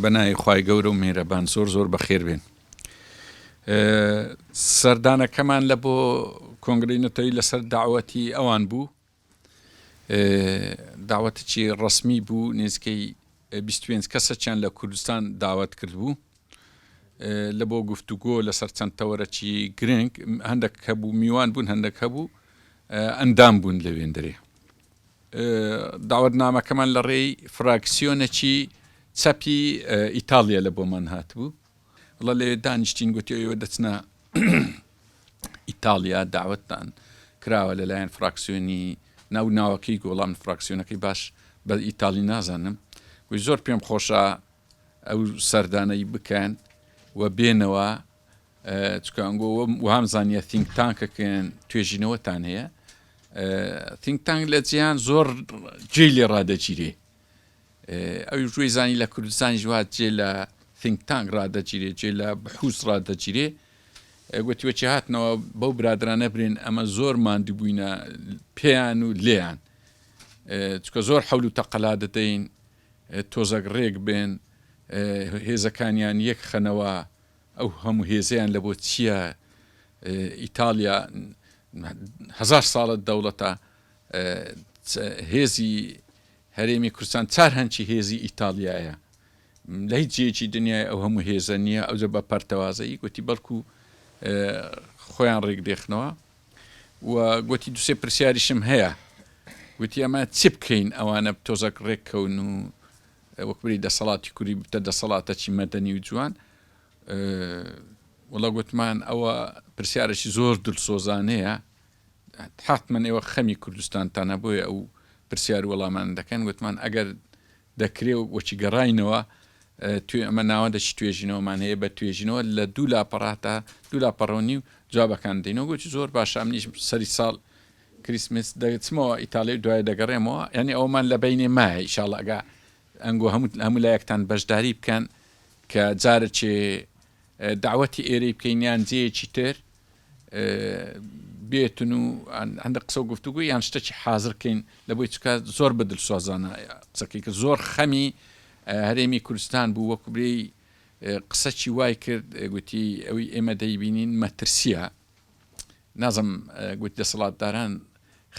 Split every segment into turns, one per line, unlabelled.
بە ناوی خوای گەورە و میهرەبان زۆر زۆر بەخێر بێن سەردانەکەمان لە بۆ کۆنگری نەتەوەی لەسەر داوەتی ئەوان بوو داوەتێکی ڕسمی بوو نزیکەی 25 کەسەچیان لە کوردستان داوت کرد بوو لە بۆ گفتوگۆ لەسەر چەند تەوەرەکی گرنگ هەندێک هەبوو میوان بوون هەندێک هەبوو ئەندام بوون لە وێندرێ داوەتنامەکەمان لە ڕێی فراکسیۆنەکی چەپی ئیتالیا لە بۆمان هاتبوو وڵە لەوێ دانیشتین گوتی ئێوە دەچنە ئیتالیا داوەتتان کراوە لەلایەن فراکسیۆنی ناو ناوەکەی گۆڵام فراکسیۆنەکەی باش بە ئیتالی نازانم گوی زۆر پێم خۆشە ئەو سەردانەی بکەن و بێنەوە چکانگۆ وام زانیە تینگ تانکەکەن توێژینەوەتان هەیە تینگ تانگ لە جیان زۆر جێ لێ ڕادەگیرێ ئەوی ژوی زانی لە کوردستانی ژوات جێ لە تینگ تانگ ڕادەگیرێ جێ لە بحوس ڕادەگیرێ گوتیوەچی هاتنەوە بەو برادرانە برێن ئەمە زۆر ماندوو بووینە پێیان و لێیان چکە زۆر حەول و تەقەلا دەدەین تۆزەک ڕێک بێن هێزەکانیان یەک خەنەوە ئەو هەموو هێزەیان لەبۆ چیە ئیتاڵیا هەزار ساڵە دەوڵەتە هێزی هەرێمی کوردستان چار هەنچی هێزی ئیتاڵیایە لە هیچ جێکی دنیای ئەو هەموو هێزە نییە ئەوجە بە پەرتەوازەی گوتی بەڵکو خۆیان ڕێک دێخنەوە و گۆتی دوسێ پرسیاریشم هەیە گوتی ئەمە چی بکەین ئەوانە تۆزەک ڕێک کەون و وەکبری دەسەڵاتی کوری بتە دەسەڵاتە چی مەدەنی و جوان وڵە گوتمان ئەوە پرسیارەی زۆر دلسۆزانەیە حتممە ئێوە خەمی کوردستانتانە بۆیە ئەو پرسیار وەڵامان دەکەن گوتمان ئەگەر دەکرێ و وەکی گەڕاینەوە توێ ئەمە ناوەندە چی توێژینەوەمان هەیە بە توێژینەوە لە دوو لاپەڕاتا دوو لاپەڕۆنی و جوابەکان دەینەوە گوتی زۆر باشە منیش سەری ساڵ کریسمس دەچمەوە ئیتالیا دوای دەگەڕێمەوە یعنی ئەومان لە بینێ مایە ئیشاڵ ئەگا ئەنگۆ هەموو هەموو لایەکتان بەشداری بکەن کە جارە چێ دەعوەتی ئێرەی بکەین یان جێیەکی تر بێتن و هەندە قسە و گفتوگو یان شتەکی حازرکەین لە بۆی چکە زۆر بە دلسۆزانە قسەکەی کە زۆر خەمی هەرێمی کوردستان بوو وەکوبرێی قسەکی وای کرد گوتی ئەوی ئێمە دەیبینین مەترسیە نازم گوت دەسەڵاتداران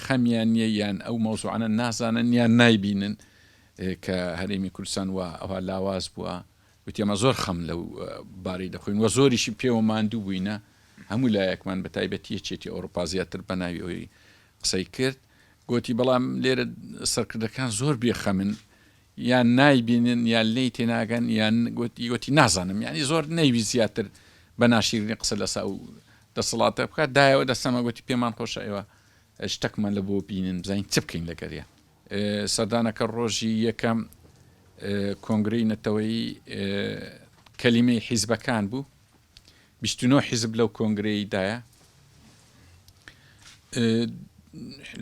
خەمیان نیە یان ئەو مەوزوعانە نازانن یان نایبینن کە هەرێمی کوردستان وە ئەوها لاواز بووە وتی ئێمە زۆر خەم لەو بارەی دەخۆین و زۆریشی پێوە ماندوو بووینە هەموو لایەکمان بە تایبەتی یەکێتی ئەوروپا زیاتر بە ناوی ئەوی قسەی کرد گوتی بەڵام لێرە سەرکردەکان زۆر بێخەمن یان نایبینن یان لی تێناگەن یان گوتی گوتی نازانم یعنی زۆر نەیوی زیاتر بە ناشیرنی قسە لەسا و دەسەڵاتە بکات دایەوە دەسەمە گوتی پێمان خۆشە ئێوە شتەکمان لە بۆ بینن بزانین چ بکەین لەگەریان سەردانەکە ڕۆژی یەکەم کۆنگرەی نەتەوەیی کەلیمەی حیزبەکان بوو بیست و نۆ حیزب لەو کۆنگرەیدایە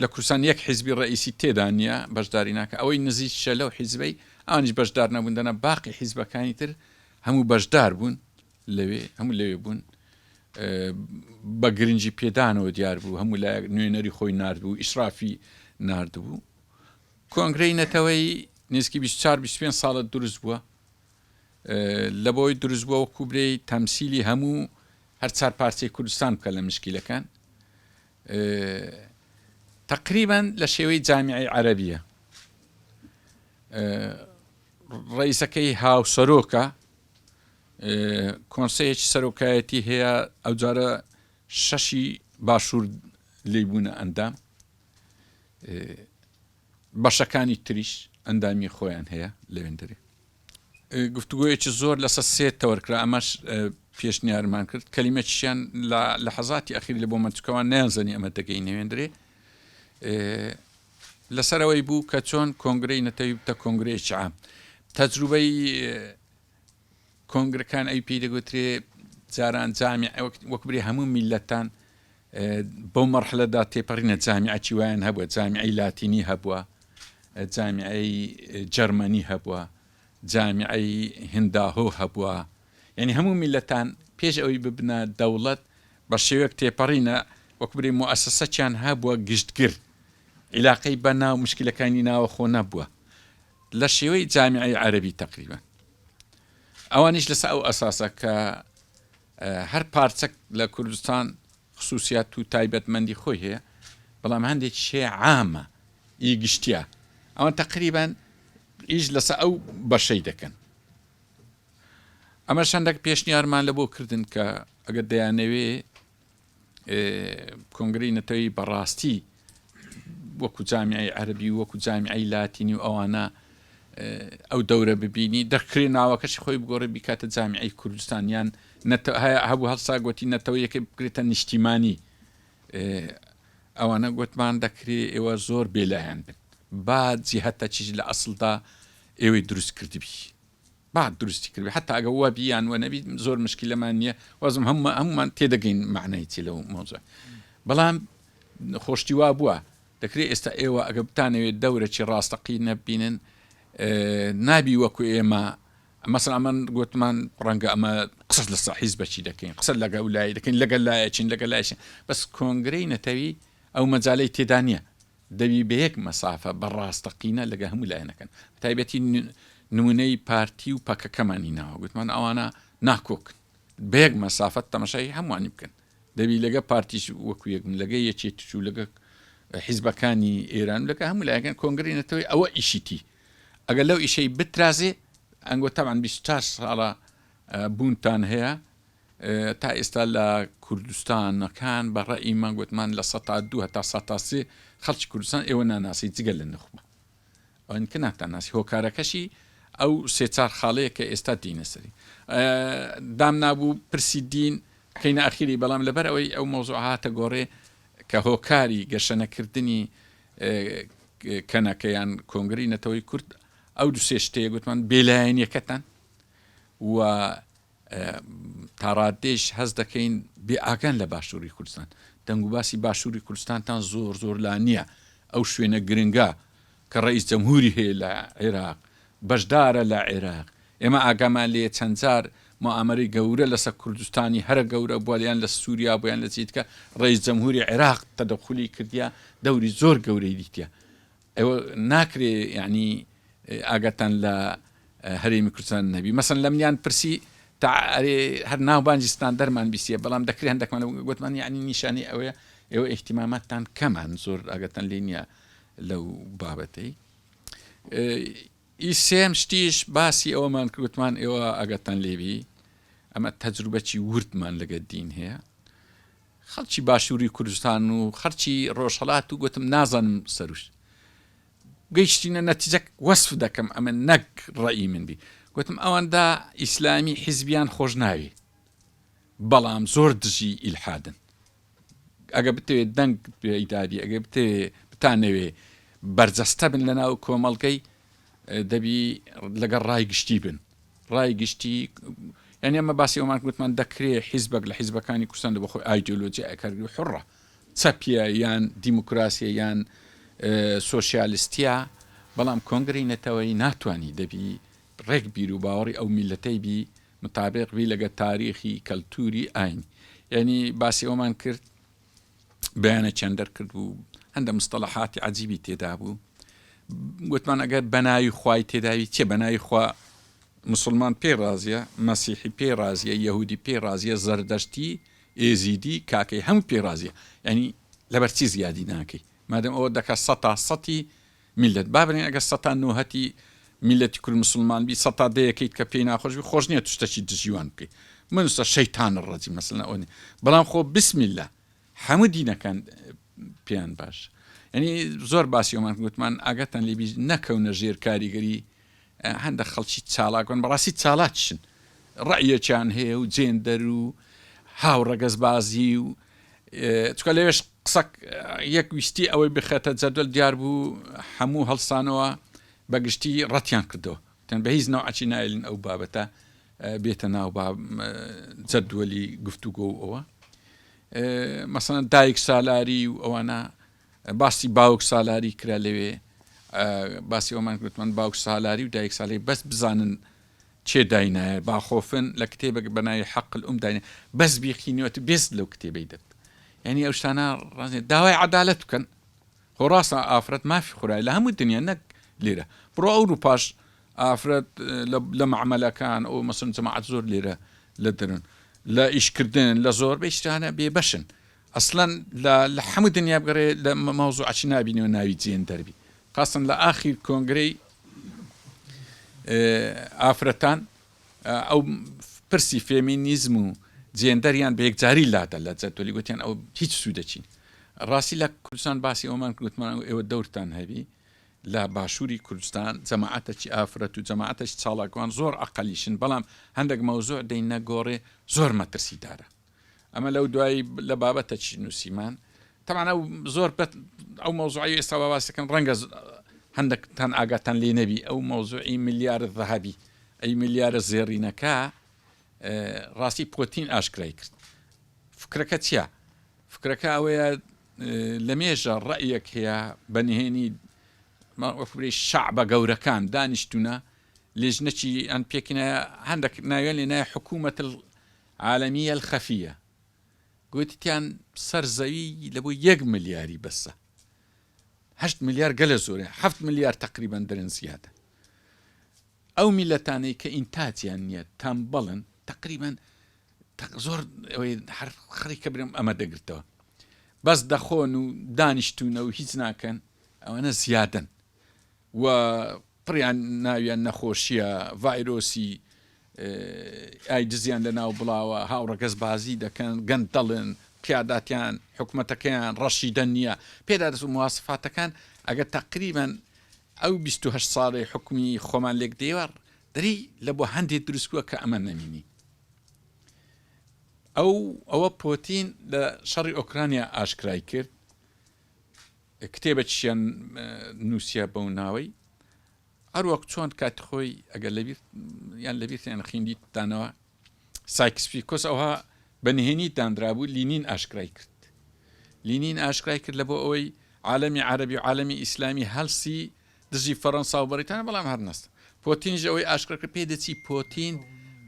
لە کوردستان یەک حیزبی ڕئیسی تێدا نییە بەشداری ناکە ئەوەی نزیک شە لەو حیزبەی ئەوانیش بەشدار نەبوون دەنا باقی حیزبەکانی تر هەموو بەشدار بوون لەوێ هەموو لەوێ بوون بە گرنگی پێدانەوە دیار بوو هەموو لایەک نوێنەری خۆی نردبوو ئیسرافی نردبوو کۆنگرەی نەتەوەی نزیکی 24 25 ساڵە دروست بووە لە بۆی دروست بووە وەکو برێی تەمسیلی هەموو هەر چار پارچەی کوردستان بکە لە مشکیلەکان تقریبان لە شێوەی جامیعی عەربیە ڕیسەکەی هاوسەرۆکە کۆنسەیەکی سەرۆکایەتی هەیە ئەوجارە شەشی باشوور لی بوونە ئەندام بەشەکانی تریش ئەندامی خۆیان هەیە لەوێندەری گفتوگویەکی زۆر لەسەر سێ تەوەرکرا ئەمەش پێشنیارمان کرد کەلیمەکیشیان لە حەزاتی ئەخیر لە بۆ منچکەوان نیانزانی ئەمە دەگەی نەوێندرێ لەسەرەوەی بوو کە چۆن کۆنگرەی نەتەوی بتە کۆنگرەیەکی عام تەجروبەی کۆنگرەکان ئەوی پێی دەگوترێ جاران جامیعە وەک برێ هەموو میلەتان بەو مەرحلەدا تێپەڕینە جامیعە چی وایان هەبووە جامیعی لاتینی هەبووە جامیعی جەرمەنی هەبووە جامیعی هنداهۆ هەبووە یعنی هەموو میلەتان پێش ئەوی ببنە دەوڵەت بە شێوەک تێپەڕینە وەک برێ موئسسەچیان هەبووە گشتگر عیلاقەی بە ناو مشکلەکانی ناوەخۆ نەبووە لە شێوەی جامیعەی عەرەبی تەقریبەن ئەوانیش لەسە ئەو ئەساسە کە هەر پارچەک لە کوردستان خصوصیات و تایبەتمەندی خۆی هەیە بەڵام هەندێک شێ عامە ئی گشتیا ئەوە تقریبان ئیش لەسە ئەو بەشەی دەکەن ئەمە شەندەک پێشنیارمان لە بۆ کردن کە ئەگەر دەیانەوێ کۆنگرەی نەتەوەیی بەڕاستی وەکو جامیعی عەربی وەکو جامیعی لاتینی و ئەوانە ئەو دەورە ببینی دەکرێت ناوەکەشی خۆی بگۆڕی بیکاتە جامیعی کوردستانیان هەبوو هەڵسا گوتی نەتەوە یەکە بکرێتە نیشتیمانی ئەوانە گوتمان دەکرێ ئێوە زۆر بێلایەن بن با جیهتە چیژ لە ئەسڵدا ئێوەی دروست کردبی بانک دروستی کردبێت حەتا ئەگەر وابی یان وەنەبی زۆر مشکیلەمان نییە وازم هەم هەمومان تێدەگەین معنای چی لەو مۆزە بەڵام خۆشتی وا بووە دەکرێت ئێستا ئێوە ئەگە بتانەوێت دەورەی ڕاستەقی نەبینن نابی وەکو ئێمە مەسن ئەمەن گوتمان ڕەنگە ئەمە قسە لە ساحیز بەچی دەکەین قسە لەگە لای دەکەین لەگەل لایەچین لەگە لایشن بەس کۆنگرەی نەتەوی ئەو مەجای تێدانە دەبی بەیەک مەسافە بە ڕاستەقینە لەگە هەموو لایەنەکەن بەتایبەتی نمونەی پارتی و پەکەکەمان هیناوە گوتمان ئەوانە ناکۆکن بەیەک مەسافەت تەمەشای هەمووانی بکەن دەبی لەگە پارتیش وەکو یەکم لەگە یەکێ تچوو لەگە حیزبەکانی ئێران لەکە هەموو لایەکەن کۆنگری نەتەوەی ئەوە ئیشیتی ئەگەر لەو ئیشەی بترازێ ئەنگۆ تاوان 24 ساڵە بوونتان هەیە تا ئێستا لە کوردستانەکان بە ڕەئی من گوتمان لە سەتا دوو هەتا سەتا سێ خەڵکی کوردستان ئێوە ناناسی جگە لە نوخبە ئەوانی کە ناتان ناسی هۆکارەکەشی ئەو سێ چار خاڵەیە کە ئێستا دینە سەری دام نابوو پرسی دین کەینە ئەخیری بەڵام لەبەر ئەوەی ئەو مۆزۆ هاتە گۆڕێ کە هۆکاری گەشەنەکردنی کەنەکەیان کۆنگری نەتەوەی کورد ئەو دو سێ شتەیە گوتمان بێلایەنیەکەتان و تاڕاددەیش هەست دەکەین بێ ئاگان لە باشووری کوردستان، دەنگوباسی باشووری کوردستانتان زۆر زۆر لا نییە، ئەو شوێنە گرنگە کە ڕەئیس جەمهووری هەیە لە عێراق، بەشدارە لە عێراق، ئێمە ئاگامان لێیە چەند جار موئامەرەی گەورە لەسەر کوردستانی هەرە گەورە بووە یان لە سووریا بووە یان لە جێی دیکە ڕەئیس جەمهووری عێراق تەدەخولی کردیە، دەوری زۆر گەورەی دیتیە. ئێوە ناکرێ یەعنی ئاگاتان لە هەرێمی کوردستان نەبی مەسەن لەمنیان پرسی تا ئەرێ هەر ناوبانجی ستاندەرمان بیسیە بەڵام دەکرێ هەندەکمان گوتمان یعنی نیشانی ئەوەیە ئێوە ئیحتیماماتتان کەمان زۆر ئاگەتەن لێ نییە لەو بابەتەی ئی سێم شتیش باسی ئەوەمان کردمان ئێوە ئاگەتان لێبی ئەمە تەجروبەکی وردمان لەگە دین هەیە خەڵکی باشووری کوردستان و خەڵکی ڕۆژهەڵات و گۆتم نازانم سروش گەیشتینە نەتیجەک وەسف دەکەم ئەمە نەک ڕەئی من بی گۆتم ئەوەندا ئیسلامی حیزبیان خۆش ناوی بەڵام زۆر دژی ئیلحادن ئەگە بتەوێت دەنگ پێدادی ئەگە بتەوێ بتانەوێ بەرجەستە بن لە ناو کۆمەڵگەی دەبی لەگەڵ ڕای گشتی بن ڕای گشتی یانی ئەمە باسی ئەومان گوتمان دەکرێت حیزبەک لە حیزبەکانی کوردستان بە خۆی ئایدۆلۆجیای کارگری حڕە چەپیە یان دیموکراسیە یان سوسیالستیا بەڵام کۆنگری نەتەوەی ناتانی دەبی ڕێک بیر و باوەڕی ئەو میلەتەی بی مطابق بی لەگە تاریخی کەلتوری ئاین یعنی باسی ئەومان کرد بەیانێکیان دەرکردبوو هەندە مستەلەحاتی عجیبی تێدابوو گوتمان ئەگەر بەناوی خوای تێداوی چێ بەناوی خوا مسلمان پێ ڕازیە مەسیحی پێ ڕازیە یهودی پێ ڕازیە زەردەشتی ئێزیدی کاکەی هەم پێ ڕازیە ینی لەبەرچی زیادی ناکەی مادەم ئەوە دەکە سە تا سەی میللەت با برێن ئەگەر سەتا نۆهەتی میللەتی کورد مسوڵمان بی سەتا دەیەکەیت کە پێی ناخۆش بی خۆش نیە تو شتەکی دژی وان بکەی منوسە شەیتان الرجیم مەسەلەن ئەوە نیە بەڵام خۆ بسم اللە هەموو دینەکان پێیان باش یعنی زۆر باسی ئەومان گوتمان ئاگاتان لێبی نەکەونە ژێر کاریگەری هەندەک خەڵکی چالاک بن بەڕاستی چالاکیشن ڕەئیەکیان هەیە و جێندەر و هاو ڕەگەزبازی و چکە لەوێش قسە یەک ویستی ئەوەی بخێتە جەدەل دیار بوو هەموو هەڵسانەوە بەگشتی ڕەتیان کردەوە تەن بە هیچ نەوعچی نایلن ئەو بابەتە بێتە ناو جەدوەلی گفتوگۆ ئەوە مەسەن دایک سالاری و ئەوانە باسی باوک سالاری کرا لەوێ باسی ئەومان گوتمان باوک سالاری و دایک سالی بەس بزانن چێ داینایە باخۆفن لە کتێبێک بەناوی حەقل ئوم داین بەس بیقینەوەت بێست لەو کتێبەی دەت یعنی ئەو شتانە ڕازێ داوای عدالت بکەن خۆ ڕاستە ئافرەت مافی خورای لە هەموو دنیا نەک لێرە بڕۆ ئەو روپاش ئافرەت لە معمەلەکان ئەو مەسن جەماعات زۆر لێرە لە درن لە ئیشکردن لە زۆر بەشتانە بێ بەشن ئەسلەن لە لە حەموو دنیا بگەڕێ لە مە مەوزوعەکی نابینیەوە ناوی جێندەر بی قەسەن لە ئاخیر کۆنگرەی ئێ ئافرەتان ئەو پرسی فێمینیزم و جێندەریان بە یەکجاری لادە لە جەدوەلی گوتیان ئەو هیچ سوودەکی نی ڕاستی لە کوردستان باسی ئەومان گوتمان و ئێوە دەورتان هەبی لە باشووری کوردستان جەماعەتەکی ئافرەت و جەماعەتەش چاڵاکوان زۆر ئەقەلیشن بەڵام هەندێک مەوزوع دەی نەگۆڕێ زۆر مەترسیدارە ئەمە لەو دوایی لە بابەتە چی نووسیمان تەمانە زۆر پێت ئەو مەوزوعی ئێستا باسەکەن ڕەنگە هەندێکتان ئاگاتان لێ نەبی ئەو مەوزوعی ملیارە ذهبی ئەی ملیارە زێڕینەکە ڕاستی پۆتین ئاشکرای کرد فکرەکە چیە فکرەکە ئەوەیە لە مێژە ڕەیەک هەیە بە نهێنی وەفری شعبە گەورەکان دانیشتونە لێژنەکی ئەن پێکینە هەندێک ناوێن لێ نای حکوومەت عالمیە الخفیە گوتیان سەر زەوی لە بۆ یەک ملیاری بەسە هەشت ملیار گەلە زۆرە هەفت ملیار تقریبان درن زیادە ئەو میلەتانەی کە ئینتاجیان نییە تەمبەڵن تقریبان زۆر هەر خڕی کە برم ئەمە دەگرتەوە بەس دەخۆن و دانیشتونە و هیچ ناکەن ئەوەنە زیادن و پڕیان ناویان نەخۆشیە ڤایرۆسی ئایدزیان لەناو بڵاوە هاوڕەگەز بازی دەکەن گەندەڵن قیاداتیان حکومەتەکەیان ڕەشیدە نییە پێدا دەست و مواسفاتەکان ئەگەر تەقریبەن ئەو 28 ساڵی حکومی خۆمان لێک دێوە دەری لە بۆ هەندێک دروستکووە کە ئەمە نەمینی ئەو ئەوە پۆتین لە شەڕی ئۆکرانیا ئاشکرای کرد کتێبەکیشیان نووسیە بەو ناوەی هەروەک چۆن کاتی خۆی ئەگەر لەبیر یان لەبیرتیان خیندیتانەوە سایکسپیکۆس ئەوها بە نهێنی دانرابوو لینین ئاشکرای کرد لینین ئاشکرای کرد لە بۆ ئەوەی عالمی عربی و عالمی ئیسلامی هەلسی دژی فەڕەنسا و بەریتانە بەڵام هەرنەست پۆتینژ ئەوەی ئاشکرکە پێدەچی پۆتین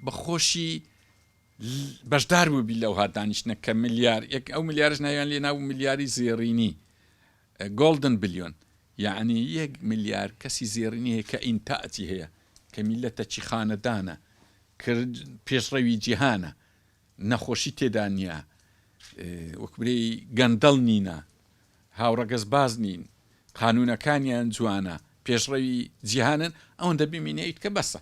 بەخۆشی بەشدار بووبی لەوها دانیشتنە کە ملیار یەک ئەو ملیارەش ناویان لێ نابوو ملیاری زێڕینی Golden Billion یەعنی یەک ملیار کەسی زێڕینی هەیە کە ئینتاجی هەیە کە میللەتەکی خانەدانە کە پێشڕەوی جیهانە نەخۆشی تێدا نییە وەک برێی گەندەڵ نینە هاوڕەگەزباز نین قانونەکانیان جوانە پێشڕەوی جیهانن ئەوەندە بمینێیت کە بەسە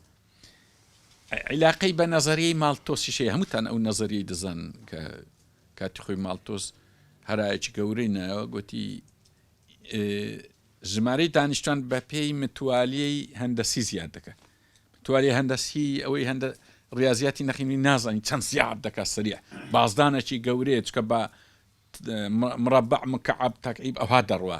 عیلاقەی بە نەزەریەی ماڵتۆسیش هەیە هەمووتان ئەو نەزەریەی دەزان کە کاتی خۆی ماڵتۆس هەرایەکی گەورەی نایەوە گوتی ژمارەی دانیشتوان بە پێی متوالیەی هەندەسی زیاد دەکەن توالێ هەندەسی ئەوەی هەندە ڕاضیاتی نەخینی نازانین چەند زیاد دەکە سریع بازدانێکی گەورەیە چکە بە مڕبع مکعب تاکعیب ئەوها دەڕوە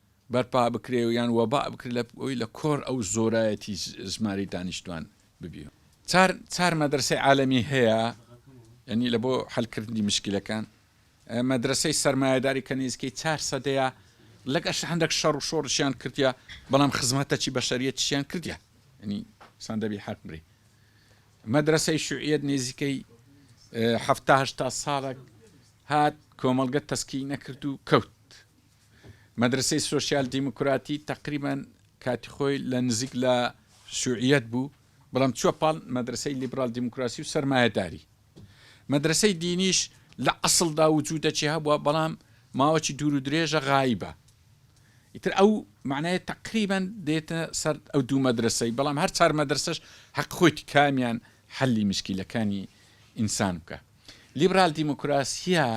بەرپا بکرێ و یان وەباء بکرێ لە ئەوەی لە کۆر ئەو زۆرایەتی زمانی دانیشتوان ببی و. چار چار مەدرەسەی عالەمی هەیە یانی لە بۆ حەل کردنی مشکلەکان مەدرەسەی سەرمایەداری کە نێزیکەی چار سەدەیە لەگەش هەندەک شەڕ و شۆڕشیان کردیە بەڵام خزمەتەچی بەشەریەتیشیان کردیە یانی سان دەبی حەق بری مەدرەسەی شوعیەت نێزیکەی حەفتا هەشتا ساڵەک هات کۆمەڵگە تەسکی نەکرد و کەوت مەدرەسەی سۆسیال دیموکراتی تەقریبەن کاتی خۆی لە نزیک لە شوعیەت بوو بەڵام چووە پاڵ مەدرەسەی لیبرال دیموکراسی و سەرمایەداری مەدرەسەی دینیش لە ئەسڵدا وجودەکی هەبووە بەڵام ماوەکی دوور و درێژە غایبە ئیتر ئەو معنای تەقریبەن دێتە سەر ئەو دوو مەدرەسەی بەڵام هەر چار مەدرسەش حەق خۆیت کامیان حەلی مشکیلەکانی ئینسان بکە لیبرال دیموکراسیە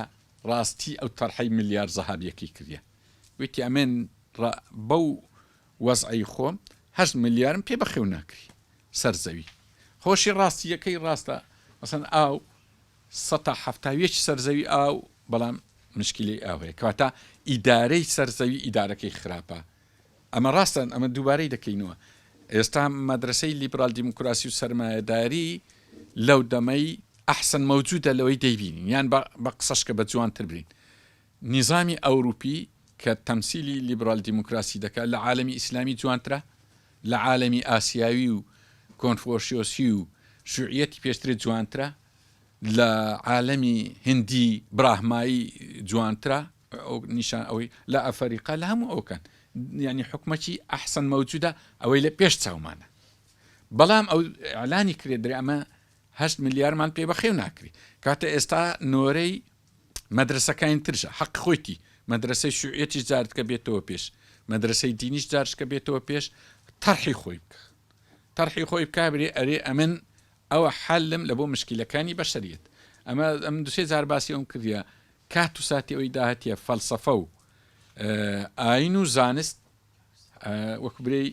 ڕاستی ئەو تەرحەی ملیار زەهابیەکەی کردیە وتی ئەمن ڕە بەو وەزعەی خۆم هەشت ملیارم پێ بەخێو ناکری سەر زەوی خۆشی ڕاستی یەکەی ڕاستە مەسەن ئاو سەتا حەفتا و یەکی سەر زەوی ئاو بەڵام مشکلی ئاو هەیە کەواتە ئیدارەی سەر زەوی ئیدارەکەی خراپە ئەمە ڕاستە، ئەمە دووبارەی دەکەینەوە، ئێستا مەدرەسەی لیبرال دیموکراسی و سەرمایەداری لەو دەمەی ئەحسەن مەوجودە لەوەی دەیبینین، یان بە قسەش کە بە جوانتر بین، نیزامی ئەوروپی کە تەمسیلی لیبرال دیموکراسی دەکات لە عالەمی ئیسلامی جوانترە؟ لە عالەمی ئاسیاوی و کۆنفۆشیۆسی و شوعیەتی پێشتر جوانترە؟ لە عالەمی هندی براهمایی جوانترە ئەو نیشان ئەوەی لە ئەفەریقا لە هەموو ئەوکەن یعنی حکومەتی ئەحسن مەوجودە ئەوەی لە پێش چاومانە بەڵام ئەو ئەلانی کرێ درێ ئەمە هەشت ملیارمان پێ بەخێو ناکری کاتە ئێستا نۆرەی مەدرسەکانی ترشە حەق خۆیتی مەدرسەی شوعەتی جارد کە بێتەوە پێش مەدرسەی دینیش جارشکە بێتەوە پێش تەرحی خۆی بکە تەرحی خۆی بکبرێ ئەرێ ئەمن ئەوە حەلم لە بۆ مشکیلەکانی بەشەریەت ئەمە ئەمن دوسێ جار باسی ئەوم کردە کات و ساتی ئەوی داهتیە فەلسەفە و ئاین و زانست وەک برێی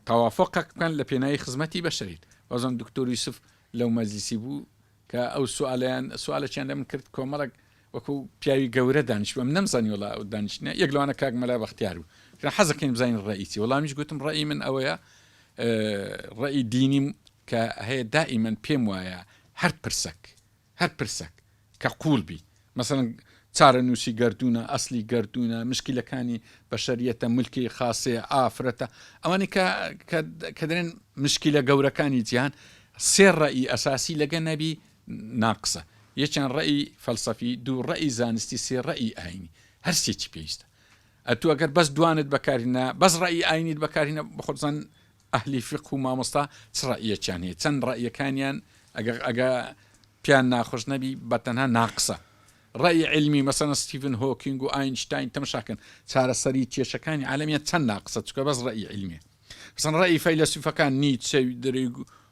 تەوافقەک بکەن لە پێناوی خزمەتی بەشەریت وەزم دکتۆر یوسف لەو مەزیسی بوو کە ئەو سوالیان سوالەچیان لەم کرد کۆمەڵک وەکو پیاوی گەورە دانیشت بووم نەمزانی وەڵا ئەو دانیشتنە یەک لەوانە کاک مەلا بەختیار بوو گوتم حەز دەکەین بزانین ڕەئی چی وەڵامیش گوتم ڕەئی من ئەوەیە ڕەئی دینیم کە هەیە دائیمەن پێم وایە هەر پرسەک هەر پرسەک کە قووڵ بی مەسەن چارەنووسی گەردوونە ئەسلی گەردوونە مشکلەکانی بەشەریەتە ملکی خاصەیە ئافرەتە ئەوانی کە کە دەێن مشکلە گەورەکانی جیان سێ ڕەئی ئەساسی لەگە نەبی ناقسە، یەکیان ڕەئی فەلسەفی، دوو ڕەئی زانستی، سێ ڕەئی ئایینی. هەر سێکی پێویستە. ئەتوو ئەگەر بەس دوانت بەکارهینا، بەس ڕەئی ئایینیت بەکارهینا، بەخۆت بزان ئەهلی فیقه و مامۆستا چ ڕەئیەکیان هەیە، چەند ڕەئیەکانیان ئەگەر ئەگە پێیان ناخۆش نەبی بەتەنها ناقسە. ڕەئی عیلمی، مەسەلەن ستیڤن هۆکینگ و ئاینشتاین تەمشا کەن چارەسەری کێشەکانی عالەمیان چەند ناقسە چونکە بەس ڕەئی عیلمیە. مەسەلەن ڕەئی فەیلەسوفەکان نیتچە و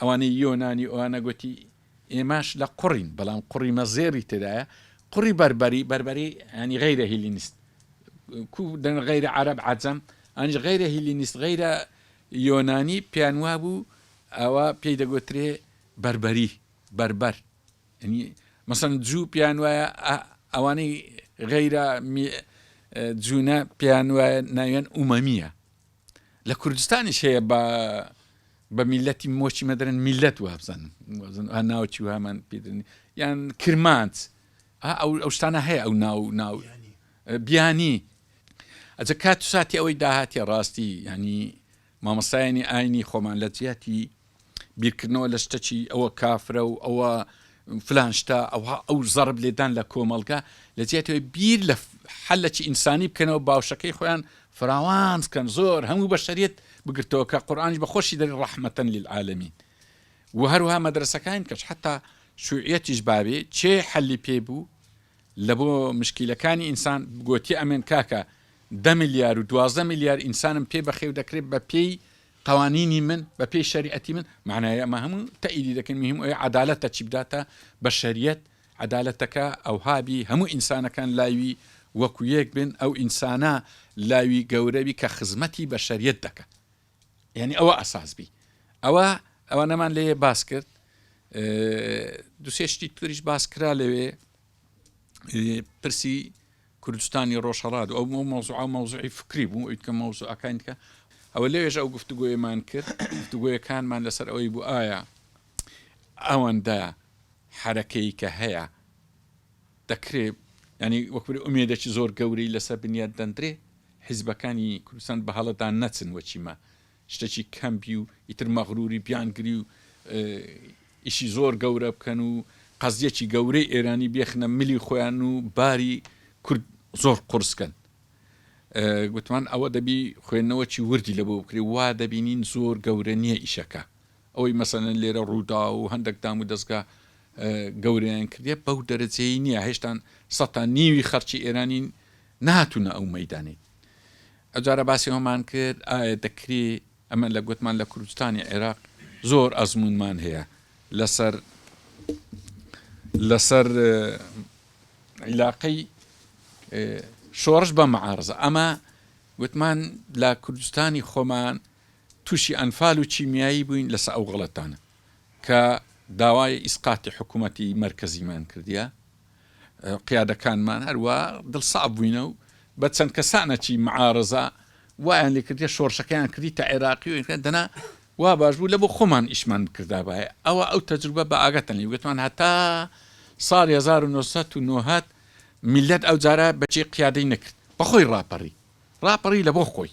ئەوانەی یۆنانی ئۆانە گۆتی ئێماش لە قوڕین بەڵام قوڕی مەزێری تێدایە قوڕی بەربەری بەربەری ینی غیرە هیلینیست کو دەن غیرە عرب عجم ئەنج غیرە هیلینیست غیرە یۆنانی پیان وابوو ئەوە پێی دەگۆترێ بەربەری بەربەر ینی مەسەن جوو پیان وایە ئەوانەی غیرە جوونە پیان وایە ناوێن ئومەمیە لە کوردستانیش هەیە بە بە میلەتی مۆچی مەدرن میلەت وابزانم ها ناوچی وهامان پێدرنی یان کرمانت ئەو ئەو شتانە هەیە ئەو ناو ناو بیانی ئەجە کات ساتی ئەوەی داهاتی ڕاستی ینی مامەستایانی ئاینی خۆمان لە جیاتی بیرکردنەوە لە شتەکی ئەوە کافرە و ئەوە فلان شتە ئەوها ئەو زەڕب لێدان لە کۆمەڵگە لە جیاتەوەی بیر لە حەلەکی ئینسانی بکەنەوە باوشەکەی خۆیان فراوان بکەن زۆر هەموو بە شەریت بگرتەوە کە قورآانیش بە خۆشی دەری ڕەحمەتەن للعاالمین و هەروها مەدرسەکان کەش حتا شوعەتیش باوێ چێ حەلی پێ بوو لە بۆ مشکیلەکانی ئینسان گۆتی ئەمێن کاکە ده میلیار و دوازدە میلیار ئینسانم پێ بەخێو دەکرێت بە پێی قوانینی من بە پێی شەریعەتی من مەعنای ئەمە هەموو تەئیدی دەکەن مهم ئەوەیە عەدالەتە چی بداتە بەشەریەت عەدالەتەکە ئەوها بی هەموو ئینسانەکان لاوی وەکو یەک بن ئەو ئینسانە لاوی گەورە بی کە خزمەتی بەشەریەت دەکا یانی ئەوە ئەساس بی ئەوە ئەوانەمان لێ باس کرد دوسێ شتی توریش باس کرا لەوێ پرسی کوردستانی ڕۆژهەڵات و ئەو مەوزوعە مەوزوعی فکری بوو ئەوی کە مەوزوعەکانی دیکە ئەوە لەوێژە ئەو گفتوگۆیەمان کرد گفتوگۆیەکانمان لەسەر ئەوەی بوو ئایا ئەوەندە حرەکەی کە هەیە دەکرێ ینی وەکبری ئومێدەکی زۆر گەورەی لەسەر بنیاد دەندرێ حیزبەکانی کوردستان بە هەڵەدان نەچن وەچیمە شتەکی کەم بی و ئیتر مەغروری بیان گری و ئیشی زۆر گەورە بکەن و قەزیەکی گەورەی ئێرانی بێخنە ملی خۆیان و باری کورد زۆر قورس کەن گوتمان ئەوە دەبی خوێندنەوەکی وردی لە بۆ بکری وا دەبینین زۆر گەورە نییە ئیشەکە ئەوەی مەسەلەن لێرە رووداو و هەندەک دام و دەزگا گەورەیان کردیە بەو دەرەجەی نیە هێشتان سەد تا نیوی خەرچی ئێرانی نەهاتونە ئەو مەیدانەی ئەجارە باسی ئەومان کرد ئایا دەکری ئەمە لە گوتمان لە کوردستانی عێراق زۆر ئەزمونمان هەیە لەسەر لەسەر عیلاقەی شۆڕش بە مەعارزە ئەمە گوتمان لە کوردستانی خۆمان توشی ئەنفال و کیمیایی بووین لەسە ئەو غەڵەتانە کە داوای ئیسقاتی حکومەتی مەرکەزیمان کردیە قیادەکانمان هەروا دڵساف بووینە و بە چەند کەسانەکی معارزە وایان لێکردە شۆرشەکەیان کردی تا عێراقی و دەنا وا باش بوو لە بۆ خۆمان ئیشمان بکردا باە ئەوە ئەو تەجروبە بە ئاگەتەن لێ گوتمان هەتا ساڵ 1990 میلەت ئەو جارە بەچی قیادەی نەکرد بەخۆی ڕاپەڕی ڕاپەڕی لە بۆ خۆی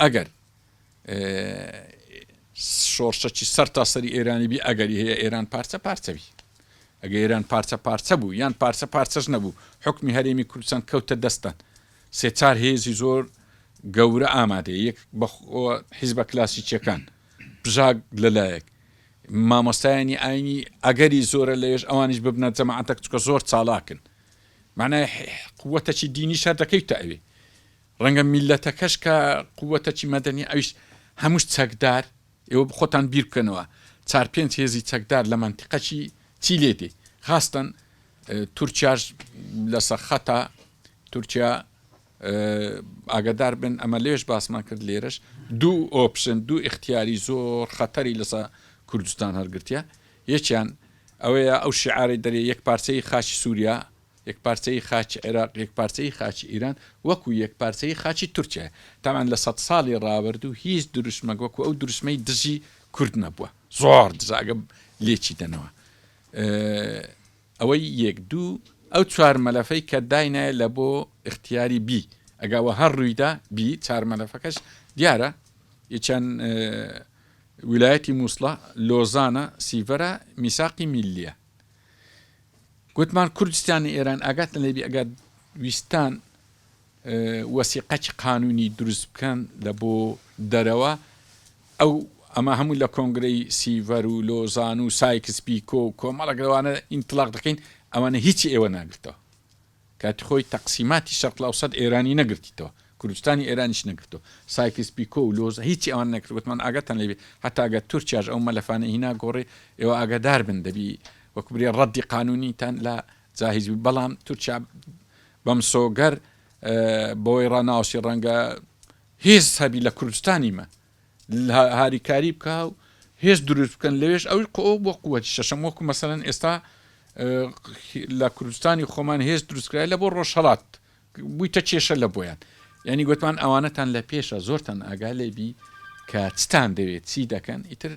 ئەگەر شۆڕشەکی سەر تا سەری ئێرانی بی ئەگەری هەیە ئێران پارچە پارچەوی ئەگە ئێران پارچە پارچە بوو یان پارچە پارچەش نەبوو حکمی هەرێمی کوردستان کەوتە دەستان سێچار هێزی زۆر گەورە ئامادە یەک حیزبە کلاسیکیەکان بژاک لەلایەک مامۆستایانی ئاینی ئەگەری زۆرە لەێش ئەوانیش ببنە جەماعاتەک چکە زۆر چالاکن معنای قوتەکی دینی شەر دەکەیت تا ئەوێ ڕەنگە میللەتەکەش کە قووتەکی مەدەنیە ئەویش هەمووش چەکدار، ئێوە خۆتان بیر بکەنەوە چار پێنج هێزی چەکدار لە مەنتیقەکی چی لێ دێ خاستەن تورکیاش لە سەخەتە تورکیا ئاگدار بن ئەمە لێش باسمان کرد لێرەش دوو ئۆپشن دوو اختیاری زۆر خەتەری لەسە کوردستان هەرگرتە یەکیان ئەوەیە ئەو شعاری دەرێ یەک پارچەی خاشی سووریا یەکپارچەیی خاکی عێراق، یەکپارچەیی خاکی ئیران، وەکو یەکپارچەیی خاکی تورکیایە. تابان لە سەد ساڵی ڕابردوو هیچ دروشمەک وەکو ئەو دروشمەی دژی کورد نەبووە. زۆر دژە ئەگەر لێکی دەنەوە. ئەوەی یەک دوو ئەو چوار مەلەفەی کە داینایە لە بۆ ئختیاری بی ئەگا وە هەر ڕوویدا بی چار مەلەفەکەش دیارە یەکیان ویلایەتی مووسڵە، لۆزانە، سیڤەرە، میساقی میللیە. گوتمان کوردستانی ئێران ئاگاتن لێبی ئەگەر ویستان وەسیقەکی قانونی دروست بکەن لە بۆ دەرەوە ئەو ئەمە هەموو لە کۆنگرەی سیڤەر و لۆزان و سایکس پیکۆ و کۆمەڵەگەوانە ئینتلاق دەکەین ئەوانە هیچی ئێوە ناگرتەوە کاتی خۆی تەقسیماتی شەرق الاوسەت ئێرانی نەگرتیتەوە کوردستانی ئێرانیش نەگرتووە سایکس پیکۆ و لۆز هیچی ئەوان نەکرد وتمان ئاگاتان لێبێ هەتا گەر تورکیاش ئەو مەلەفانەی هینا گۆڕی ئێوە ئاگادار بن دەبی وەک برێ ڕەدی قانونیتان لە جاهیز بی بەڵام تورکیا بەمسۆگەر بەوەی ڕناوسی ڕەنگە هێز هەبی لە کوردستانی مە هاریکاری بکا و هێز دروست بکەن لەوێش ئەوی قۆ بۆ قوەتی شەشەم وەکو مەسەن ئێستا لە کوردستانی خۆمان هێز دروستکرای لە بۆ ڕۆژهڵات بوویتە کێشە لە بۆیان یعنی گوتمان ئەوانەتان لە پێشە زۆرتان ئاگا لێبی کە چتان دەوێت چی دەکەن ئیتر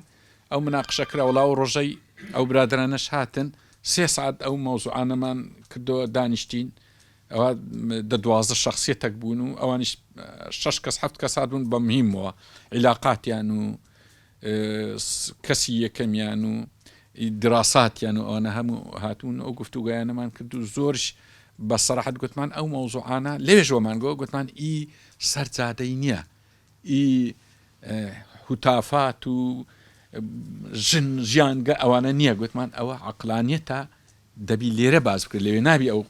ئەو مناقشە کراوەڵا و ڕۆژەی ئەو برادرانەش هاتن سێ سعات ئەو مەوزوعانەمان کردەوە دانیشتین ئەوا دە دوازدە شەخسیەتەک بوون و ئەوانیش شەش کەس حەفت کەس هاتبوون بە مهمەوە عیلاقاتیان و کەسی یەکەمیان و دراساتیان و ئەوانە هەموو هاتوون ئەو گفتوگویانەمان کرد و زۆرش بە سەراحەت گوتمان ئەو مەوزوعانە لێژۆمان گۆ گوتمان ئی سەرجادەی نییە ی هتافات و ژن ژیانگە ئەوانە نیە گوتمان ئەوە عەقلانیەتە دەبی لێرە باس بکرێت لەوێ نابی ئەو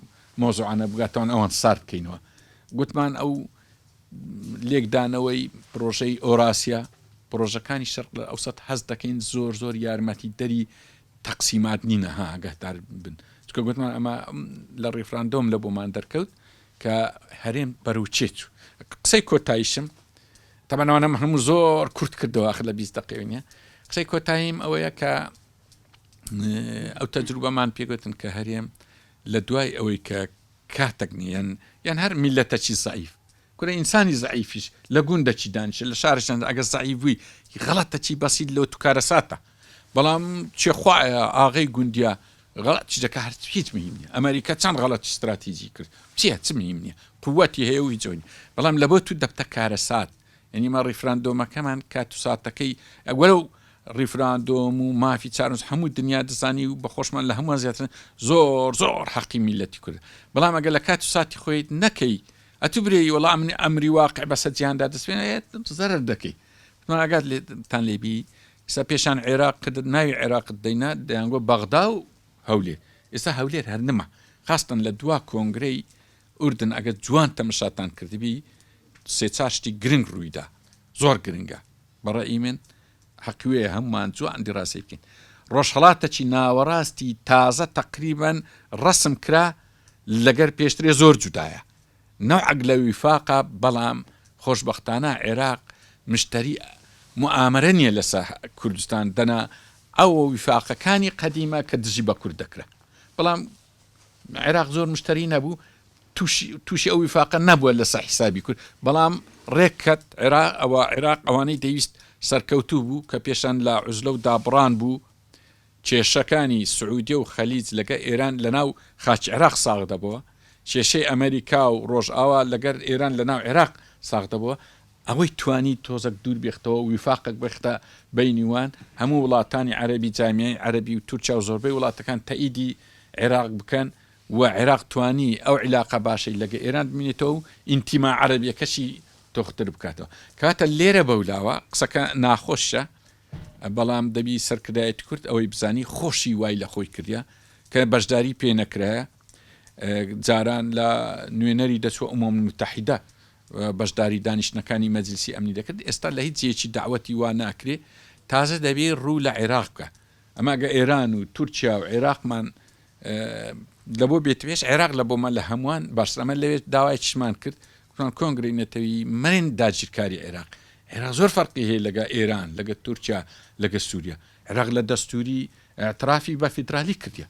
مۆزوعانە بگاتەوەن ئەوان سارد بکەینەوە گوتمان ئەو لێکدانەوەی پرۆژەی ئۆراسیا پرۆژەکانی شەرق لە ئەوسەت هەست دەکەین زۆر زۆر یارمەتی دەری تەقسیمات نینە ها گەهدار بن چکە گوتمان ئەمە لە ڕیفراندۆم لە بۆمان دەرکەوت کە هەرێم بەرەو چێ چوو قسەی کۆتایشم تەبەن ئەوانم هەموو زۆر کورت کردەوە آخر لە بیست دقی نیە قسەی کۆتاییم ئەوەیە کە ئەو تەجروبەمان پێگوتن کە هەرێم لە دوای ئەوەی کە کاتەک نیەن یان هەر میلەتەکی زعیف کورە ئینسانی زعیفیش لە گوندەکی دانیشە لە شارشان ئەگەر زعیف بووی غەڵەتەکی بەسیت لەو توکارە ساتە بەڵام چێخوایە ئاغی گوندیا غەڵەت چ دەکا هەر هیچ مهیم نیە ئەمەریکا چەند غەڵەتی ستراتیجی کرد چیە چ مهیم نیە قوەتی هەیە و هیچ ئەونی بەڵام لەبۆ تو دەبتە کارەسات یەنی مە ڕیفراندۆمەکەمان کات و ساتەکەی ئەگوەرە و ڕیفراندۆم و مافی چارنج هەموو دنیا دەزانی و بەخۆشمان لە هەمووان زیاترن زۆر زۆر حەقی میلەتی کورد بەڵام ئەگە لە کات و ساتی خۆی نەکەی ئەتو برێی وەڵام منی ئەمری واقع بەسە جیاندا دەسێنێت زەرر دەکەی ماگات لێتان لێبی ئیستا پێشان عێراق کرد ناوی عێراقت دەینا دەیانگۆ بەغدا و هەولێر ئێستا هەولێر هەر نما خاستن لە دوا کۆنگرەی ئوردن ئەگەر جوان تەمەشاتان کردبی سێ چار شتی گرنگ ڕوویدا زۆر گرنگە بەڕێی من حەقوێ هەمومان جوان دیڕاسێکین ڕۆژهڵاتەکی ناوەڕاستی تازە تەقریبەن ڕسم کرا لەگەر پێشترێ زۆر جودایە نوعک لە ویفاقە بەڵام خۆشبەختانە عێراق مشتەری موئامەرە نیە لەسەر کوردستان دەنا ئەوە ویفاقەکانی قەدیمە کە دژی بە کورد دەکرا بەڵام عێراق زۆر مشتەری نەبوو توشی توشی ئەو ویفاقە نەبووە لەسەر حیسابی کورد بەڵام ڕێککەت عێراق ئەوە عێراق ئەوانەی دەویست سەرکەوتوو بوو کە پێشان لە عوزلە و دابڕان بوو کێشەکانی سعودیە و خەلیج لەگەر ئێران لەناو خاکی عێراق ساغ دەبووە، کێشەی ئەمەریکا و ڕۆژئاوا لەگەر ئێران لەناو عێراق ساغ دەبووە، ئەوەی توانی تۆزەک دوور بێختەوە و ویفاقەک بێختە بەینی وان، هەموو وڵاتانی عەرەبی جامیای عەرەبی و تورکیا و زۆربەی وڵاتەکان تەئیدی عێراق بکەن و عێراق توانی ئەو عیلاقە باشەی لەگە ئێران بمینێتەوە و ئینتیما عەرەبیەکەشی تۆختر بکاتەوە کەواتە لێرە بەولاوە قسەکە ناخۆشە بەڵام دەبی سەرکردایەتی کورد ئەوەی بزانی خۆشی وای لە خۆی کردە کە بەشداری پێ نەکرایە جاران لە نوێنەری دەچوە ئومم متحیدە بەشداری دانیشتنەکانی مەجلسی ئەمنی دەکرد ئێستا لە هیچ جێکی داوەتی وا ناکرێ تازە دەبێ ڕوو لە عێراق بکە ئەماگە ئێران و تورکیا و عێراقمان لە بۆ بێت پێش عێراق لە بۆمە لە هەمووان باشەمە لەوێت داوای چشمان کرد کۆنگرەی نەتەوی مەرن داگیرکاری عێراق عێراق زۆر فەرقی هەیە لەگە ئێران لەگە تورکیا لەگە سوریا عێراق لە دەستوری ئیعترافی بە فیدرالی کردیە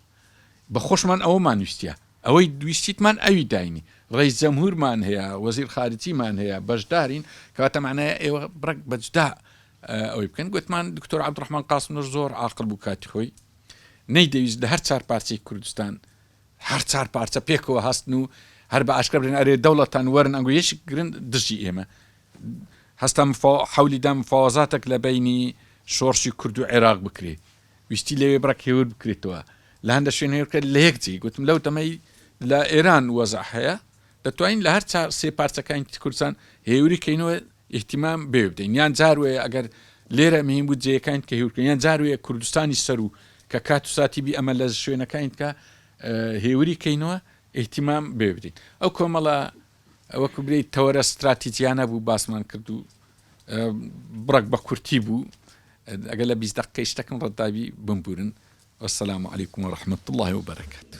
بە خۆشمان ئەوەمان ویستە ئەوەی دویستیتمان ئەوی داینی ڕیس جەمهورمان هەیە وەزیر خارجیمان هەیە بەشدارین کەواتە معنای ئێوە بڕک بەجدا ئەوەی بکەن گوتمان دکتۆر عبدڕحمان قاسمنەر زۆر عاقل بوو کاتی خۆی نەیدەویست لە هەر چار پارچەی کوردستان هەر چار پارچە پێکەوە هەستن و هەر بە ئاشکرا بلێن ئەرێ دەوڵەتان وەرن ئەنگۆ یەش گرن دژی ئێمە هەستا مفا حولی دا مفاوەزاتێک لە بینی شۆڕشی کورد و عێراق بکرێ ویستی لەوێ بڕک هێور بکرێتەوە لە هەندە شوێن هێورکە لە یەک جێ گوتم لەو تەمەی لە ئێران وەزع هەیە دەتوانین لە هەر چار سێ پارچەکانی کوردستان هێوری کەینەوە ئیهتیمام بەوێ بدەین یان جار وەیە ئەگەر لێرە مهیم بوو جێیەکانین کە هیورکرێن یان جار وەیە کوردستانیش سەروو کە کات و ساتی بی ئەمە لە شوێنەکانین کە هێوری کەینەوە ئیهتیمام بەوێ بدەین ئەو کۆمەڵە وەکو برێی تەوەرە ستراتیجیانە بوو باسمان کرد و بڕک بە کورتی بوو ئەگەر لە بیست دقەی شتەکەم ڕەتداوی بمبورن والسلام عليكم ورحمة الله وبركاته